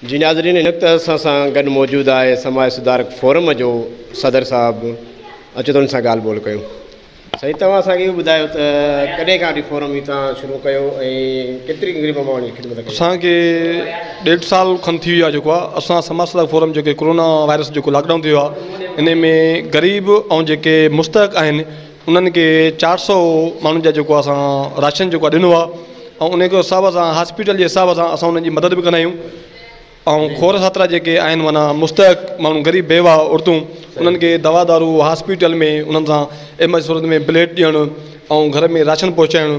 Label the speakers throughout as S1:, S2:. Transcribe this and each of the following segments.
S1: جي ناظرين هن وقت اسان سان گڏ موجود آهي سماج سڌارڪ فورم جو صدر صاحب اچو ته ان سان ڳالهه ٻولهه ڪيون سائين توهان اسان کي ٻڌايو ته ڪڏهن کان فورم هي تان شروع ڪيو ۽ ڪيتري غريب ماڻهن جي خدمت ڪئي اسان کي
S2: ڏيڍ سال کن ٿي ويو آهي جيڪو اسان سماج سڌارڪ فورم جيڪي ڪورونا وائرس جيڪو لاڪ ڊائون ٿيو آهي انهي ۾ غريب ۽ جيڪي مستحق آهن انهن کي چار سئو ماڻهن جا جيڪو اسان راشن جيڪو ڏنو آهي ۽ انهي کي حساب سان هاسپيٽل جي حساب سان اسان انهن جي مدد به ڪندا آهيون ۽ کور ساترا جيڪي آهن معنيٰ مستحق ماڻهو غريب بيواهه عورتون انهن کي دوا دارو هاسپيٽل ۾ انهن سان ايمرجنسي صورت ۾ بليڊ ڏيڻ ۽ گهر ۾ راشن پهچائڻ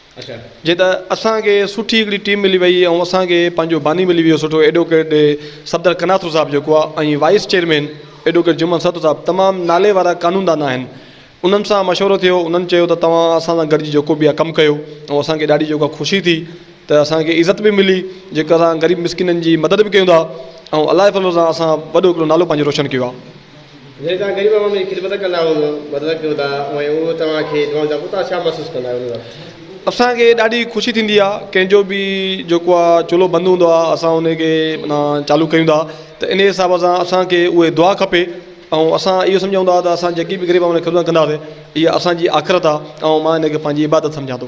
S2: جي ته اسان کي سٺي هڪڙي ٽيم ملي وئي ۽ اسان کي پنهنجو باني ملي ويو سٺو ايڊووڪيٽ صفدر قناطرو صاحب جيڪو آهي ۽ وائيس چيئرمين ايڊووڪيٽ جمعن سرتو صاحب تمام نالي وارا قانون دان آهن انهن سان مشورو ٿيو انهن چيو ته توهان اسان سان گڏجي جيڪو به آهي ڪم ڪيو ۽ اسان کي ڏاڍي جيڪو آهي خوشي ٿي ته اسان کي عزت به ملي جيڪو اسان غريب مسڪينن جي مدد به ڪيون ٿا ۽ الله جي فضل سان اسان وڏو هڪڙو نالو پنهنجو روشن ڪيو آهي
S1: جيئن توهان غريب
S2: عوام جي خدمت ڪندا آهيو ته مدد ڪيو ٿا اوهين اهو توهان کي جوان ٿا ڪو توهان ڇا محسوس ڪندا آهيو ان وقت. اسان کي ڏاڍي خوشي ٿيندي آهي ڪنهن جو به جيڪو آهي چولهو بند هوندو آهي اسان ان کي معنيٰ چالو ڪيون ٿا ته ان حساب سان اسان کي اهي دعا کپي ۽ اسان اهو سمجهون ٿا ته اسان جيڪي به غريب عوام جي خدمت ڪنداسين اها اسان جي آخرت آهي ۽ مان ان کي پنهنجي عبادت سمجهان ٿو.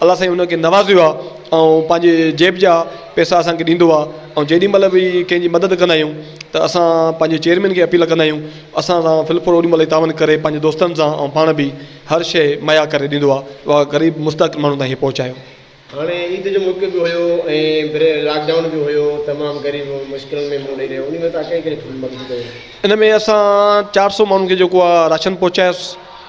S2: الله سائين ان کي نوازيو آهي ۽ پنهنجي جيب جا پيسا اسان کي ڏيندو آهي ۽ جيڏي مهل به ڪنهن جي مدد ڪندا آهيون ته اسان پنهنجي چيئرمين کي اپيل ڪندا آهيون اسان سان فل فور اوڏيمهل تعاون ڪري پنهنجي دوستن سان ۽ پاڻ به هر شيء مهيا ڪري ڏيندو آهي اها غريب مستحق ماڻهن تائين پهچايو هاڻي عيد
S1: جو موقعو به هيو ۽ لاڪ ڊائون به هيو تمام غريب مشڪلن ۾ منهن ڏئي رهيو انهي ۾ تهان ڪهڙي ڪهڙي مدد ڪئي؟ ان ۾ اسان
S2: چار سؤ ماڻهن کي جيڪو آهي راشن پهچايس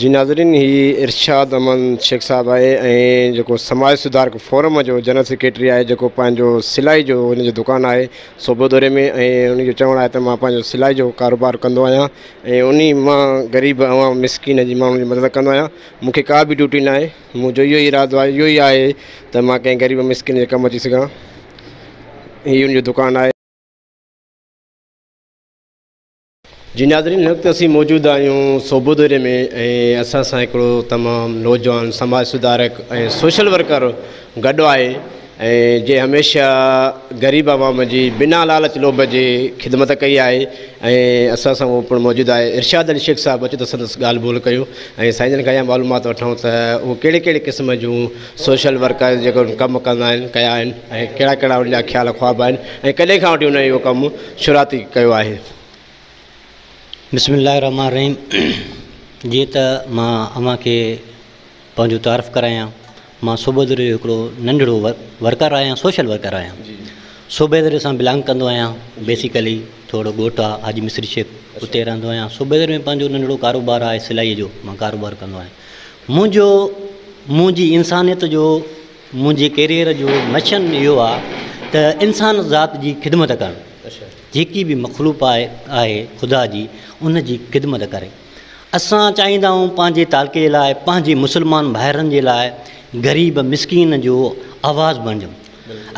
S1: جي ناظرين هي ارشاد احمد شيخ صاحب آهي ۽ جيڪو سماج سڌارڪ فورم جو جنرل سيڪريٽري آهي جيڪو پنهنجو سلائي جو ان جو دڪان آهي صوبو دوري ۾ ۽ ان جو چوڻ آهي ته مان پنهنجو سلائي جو ڪاروبار ڪندو آهيان ۽ انهي مان غريب عوام مسڪين جي ماڻهن جي مدد ڪندو آهيان مون کي ڪا به ڊيوٽي ناهي مون جو اهو ئي ارادو آهي اهو ئي آهي ته مان ڪنهن غريب مسڪين جي ڪم اچي سگهان هي ان جو دڪان آهي. جي ناظرين هن وقت اسين موجود آهيون سوڀو دوري ۾ ۽ اسان سان هڪڙو تمام نوجوان سماج سڌارڪ ۽ سوشل ورڪر گڏ آهي ۽ جي هميشه غريب عوام جي بنا لالچ لوڀ جي خدمت ڪئي آهي ۽ اسان سان اهو پڻ موجود آهي ارشاد علي شيخ صاحب اچو ته سندس ڳالهه ٻولهه ڪيون ۽ سائين جن کان اها معلومات وٺون ته اهو ڪهڙي ڪهڙي قسم جون سوشل ورڪر جيڪو ڪم ڪندا آهن ڪيا آهن ۽ ڪهڙا ڪهڙا ان جا خيال خواب آهن ۽ ڪڏهن کان وٺي انهن اهو ڪم شروعاتي ڪيو آهي. بسم الله
S3: الرحمٰن الرحيم جيئن ته مان اوهان کي پنهنجو تعارف ڪرايان مان صوبيدڙي جو هڪڙو ننڍڙو ورڪر آهيان سوشل ورڪر آهيان صوبيدڙي سان بلانگ ڪندو آهيان بيسيڪلي ٿورڙو ڳوٺ آهي حاجي مصري شيخ اتي رهندو آهيان صوبيدڙي ۾ پنهنجو ننڍڙو ڪاروبار آهي سلائي جو مان ڪاروبار ڪندو آهيان منهنجو منهنجي انسانيت جو منهنجي ڪيريئر جو مشن اهو آ ته انسان ذات جي خدمت ڪرڻ جيڪي به مخلوق آهي آهي خدا جي ان جي خدمت ڪري اسان چاهيندا آهيون پنهنجي تعلقي لاء پنهنجي مسلمان ڀائرن جي لاء غريب مسڪين جو آواز بڻجون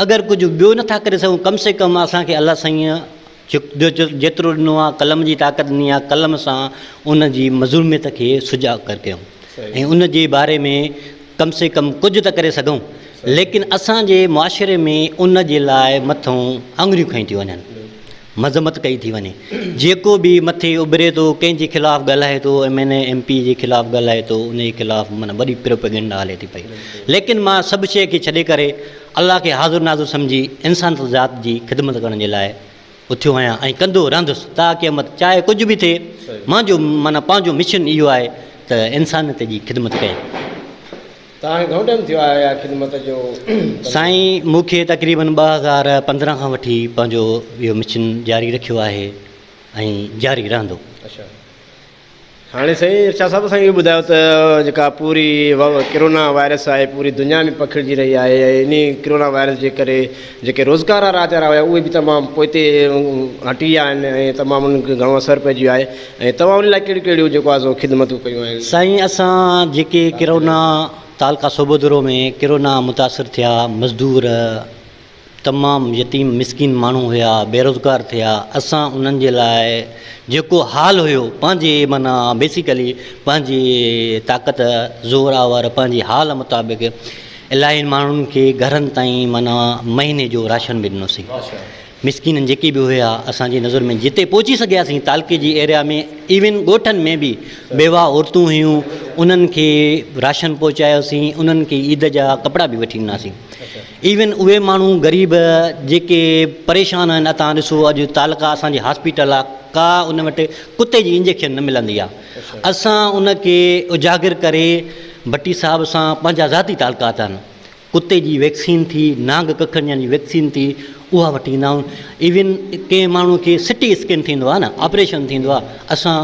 S3: اگر ڪجهه ٻيو نٿا ڪري سگهون ڪم سي ڪم اسانکي الله سائين جيترو ڏنو آ قلم جي طاقت ڏني آ قلم سان ان جي مظلوميت کي سجا ڪر ڪيون ۽ ان جي باري ۾ ڪم سي ڪم ڪجھ ته ڪري سگھون ليڪن اسان جي معاشري ۾ ان جي لاء مٿون آڱريون کنيون ٿي وڃن مذمت ڪئي ٿي وڃي جيڪو به مٿي اڀري ٿو ڪنهن جي خلاف ڳالهائي ٿو M N A M P جي خلاف ڳالهائي ٿو ان جي خلاف معنيٰ وڏي پروپيگنڊا هلي ٿي پئي ليڪن مان سڀ شيء کي ڇڏي ڪري الله کي حاضر ناظر سمجهي انسان ذات جي خدمت ڪرڻ جي لاء اٿيو آهيان ۽ ڪندو رهندس تا قيامت چاهي ڪجهه به ٿئي مانجو معنيٰ پنهنجو مشن اهو آهي ته انسانيت جي خدمت ڪيان. ته
S1: هاڻي گهڻو ٽائيم ٿيو آهي اها خدمت جو ڪندي؟ سائين
S3: مون کي تقريبن ٻه هزار پندرهن کان وٺي پنهنجو اهو مشن جاري رکيو آهي ۽ جاري رهندو. اچا.
S1: هاڻي سائين ارشاد صاحب اسان کي اهو ٻڌايو ته جيڪا پوري ڪرونا وائرس آهي پوري دنيا ۾ پکڙجي رهي آهي ۽ انهي ڪرونا وائرس جي ڪري جيڪي روزگار وارا ادارا هيا اهي به تمام پوئتي هٽي ويا آهن ۽ تمام انهن کي گهڻو اثر پئجي ويو آهي ۽ توهان انهي لاء ڪهڙيون ڪهڙيون جيڪو آهي سو خدمتون ڪيون آهن. سائين اسان
S3: جيڪي ڪرونا تعلقه صوبودرو ۾ ڪرونا متاثر ٿيا مزدور تمام يتيم مسڪين ماڻهو هيا بيروزگار ٿيا اسان انهن جي لاء جيڪو حال هيو پنهنجي معنيٰ بيسيڪلي پنهنجي طاقت زور آور پنهنجي حال مطابق الاهين ماڻهن کي گهرن تائين معنيٰ مهيني جو راشن به ڏنوسين مسڪين جيڪي به هيا اسان جي نظر ۾ جتي پهچي سگهياسين تعلقي جي ايريا ۾ ايون ڳوٺن ۾ به بيواهه عورتون هيون انهن کي راشن پهچايوسين انهن کي عيد جا ڪپڙا به وٺي ڏناسين ايون اهي ماڻهو غريب جيڪي پريشان آهن اتا ڏسو اڄ تعلقا اسان جي هاسپيٽل آ ڪا ان وٽ ڪتي جي انجيڪشن نه ملندي آ اسان ان کي اجاگر ڪري ڀٽي صاحب سان پنهنجا ذاتي تعلقات آهن ڪتي جي ويڪسين ٿي نانگ ڪکڙنيان جي ويڪسين ٿي اها وٺي ايندا آهيون ايون ڪنهن ماڻهو کي سٽي اسڪين ٿيندو آ نه آپريشن ٿيندو آ اسان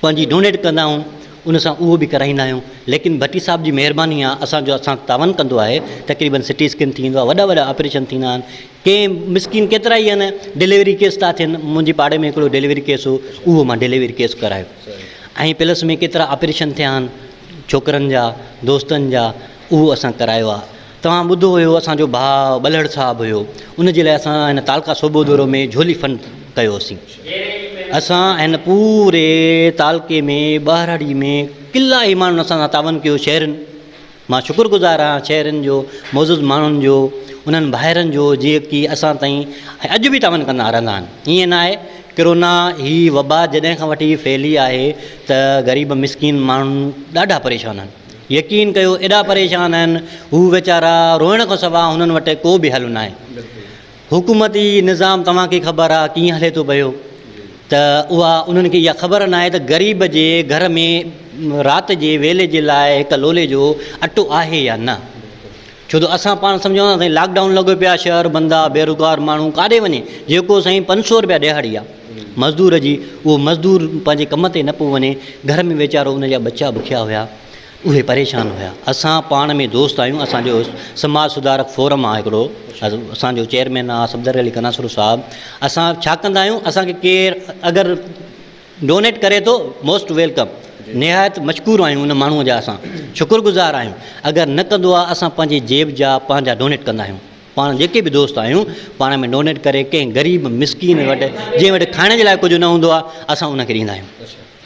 S3: پنهنجي ڊونيٽ ڪندا آهيون ان سان اهو به ڪرائيندا آهيون ليڪن ڀٽي صاحب جي مهرباني آهي اسان جو اسان تعاون ڪندو آهي تقريبن سٽي اسڪين ٿيندو آهي وڏا وڏا آپريشن ٿيندا آهن ڪئين مسڪين ڪيترا ئي آهن ڊليوري ڪيس ٿا ٿين منهنجي پاڙي ۾ هڪڙو ڊليوري ڪيس هو اهو مان ڊليوري ڪيس ڪرايو ۽ پلس ۾ ڪيترا آپريشن ٿيا آهن ڇوڪرن جا دوستن جا اهو اسان ڪرايو آهي توهان ٻڌو هيو اسان جو ڀاء ٻلهڙ صاحب هيو ان جي لاء اسان هن تعلقه صوبو دورو ۾ جهولي فن ڪيو سين اسان هن پوري تعلقي ۾ ٻهراڙي ۾ ڪلا ئي ماڻهن اسان سان تعاون ڪيو شهرين مان شڪر گذار آهيان شهرين جو معزز ماڻهن جو انهن ڀائرن جو جيڪي اسان تائين اڄ به تعاون ڪندا رهندا آهن ائين نه آهي ڪرونا هي وبا جڏهن کان وٺي ڦهلي آهي ته غريب مسڪين ماڻهن ڏاڍا پريشان آهن يقين ڪيو ايڏا پريشان آهن هو ويچارا روئڻ کان سوا هنن وٽ ڪو به حل ناهي حڪومتي نظام توهان کي خبر آهي ڪيئن هلي ٿو پيو ته اها انهن کي اها خبر ناهي ته غريب جي گهر ۾ رات جي ويلي جي لاء هڪ لولي جو اٽو آهي يا نه ڇو ته اسان پاڻ سمجهون ٿا سائين لاڪ ڊائون لڳو پيو آ شهر بند آ بيروگار ماڻهو ڪاڏي وڃي جيڪو سائين پنج سو رپيا ڏهاڙي آ مزدور جي اهو مزدور پنهنجي ڪم تي نه پيو وڃي گهر ۾ ويچارو ان جا ٻچا بکيا هيا اهي پريشان هيا اسان پاڻ ۾ دوست آهيون اسان جو سماج سڌارڪ فورم آ هڪڙو اسان جو چيئرمين آ صفدر علي قناسرو صاحب اسان ڇا ڪندا آهيون اسان کي ڪير اگر ڊونيٽ ڪري ٿو موسٽ ويلڪم نهايت مشڪور آهيون ان ماڻهو جا اسان شڪر گذار آهيون اگر نه ڪندو آ اسان پنهنجي جيب جا پنهنجا ڊونيٽ ڪندا آهيون پاڻ جيڪي به دوست آهيون پاڻ ۾ ڊونيٽ ڪري ڪنهن غريب مسڪين وٽ جنهن وٽ کائڻ جي لاء ڪجهه نه هوندو آ اسان ان کي ڏيندا آهيون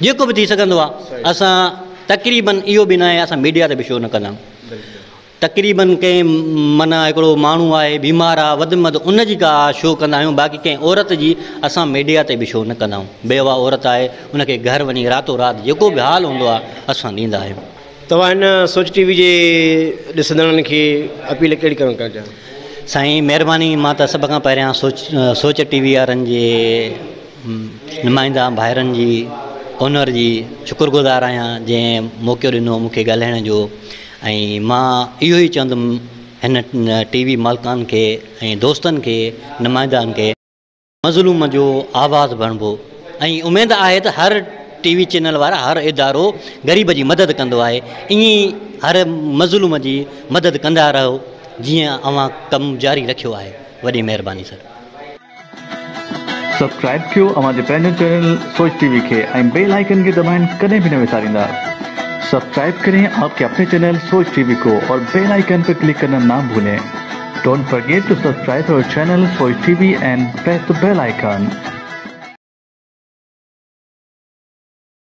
S3: جيڪو به ٿي سگهندو آ اسان تقريبن اهو به ناهي اسان ميڊيا تي به شو نه ڪندا آهيون تقريباً ڪنهن معنيٰ هڪڙو ماڻهو آهي بيمار آ وڌ م وڌ ان جي ڪا شو ڪندا آهيون باقي ڪنهن عورت جي اسان ميڊيا تي به شو نه ڪندا آهيون بيواه عورت آهي ان کي گهر وڃي راتو رات جيڪو به حال هوندو آهي اسان ڏيندا آهيون. توهان هن
S1: سوچ ٽي وي جي ڏسندڙن کي اپيل ڪهڙي ڪرڻ ڪرڻ چاهيو ٿا؟ سائين مهرباني
S3: مان ته سڀ کان پهريان سوچ سوچ ٽي وي وارن جي نمائنده ڀائرن جي اونر جي شڪر گذار آهيان جنهن موقعو ڏنو مون کي ڳالهائڻ جو ۽ مان اهو ئي چوندم هن ٽي وي مالڪان کي ۽ دوستن کي نمائندان کي. مظلوم جو آواز بڻبو ۽ اميد آهي ته هر ٽي وي چينل وارا هر ادارو غريب جي مدد ڪندو آهي ائين ئي هر مظلوم جي مدد ڪندا رهو جيئن اوهان ڪم جاري رکيو آهي وڏي مهرباني سر.
S4: سبسڪرائب ڪيو اوهان جي پنهنجي چينل سوچ ٽي وي کي ۽ بيل آئيڪن کي دٻائڻ ڪڏهن به نه وساريندا سبسڪرائب ڪرين آپ ڪي اپني چينل سوچ ٽي وي ڪو اور بيل آئيڪن پي ڪلڪ ڪرنا نا ڀولين ڊونٽ فرگيٽ ٽو سبسڪرائب اور channel Soch T V and press the bell icon.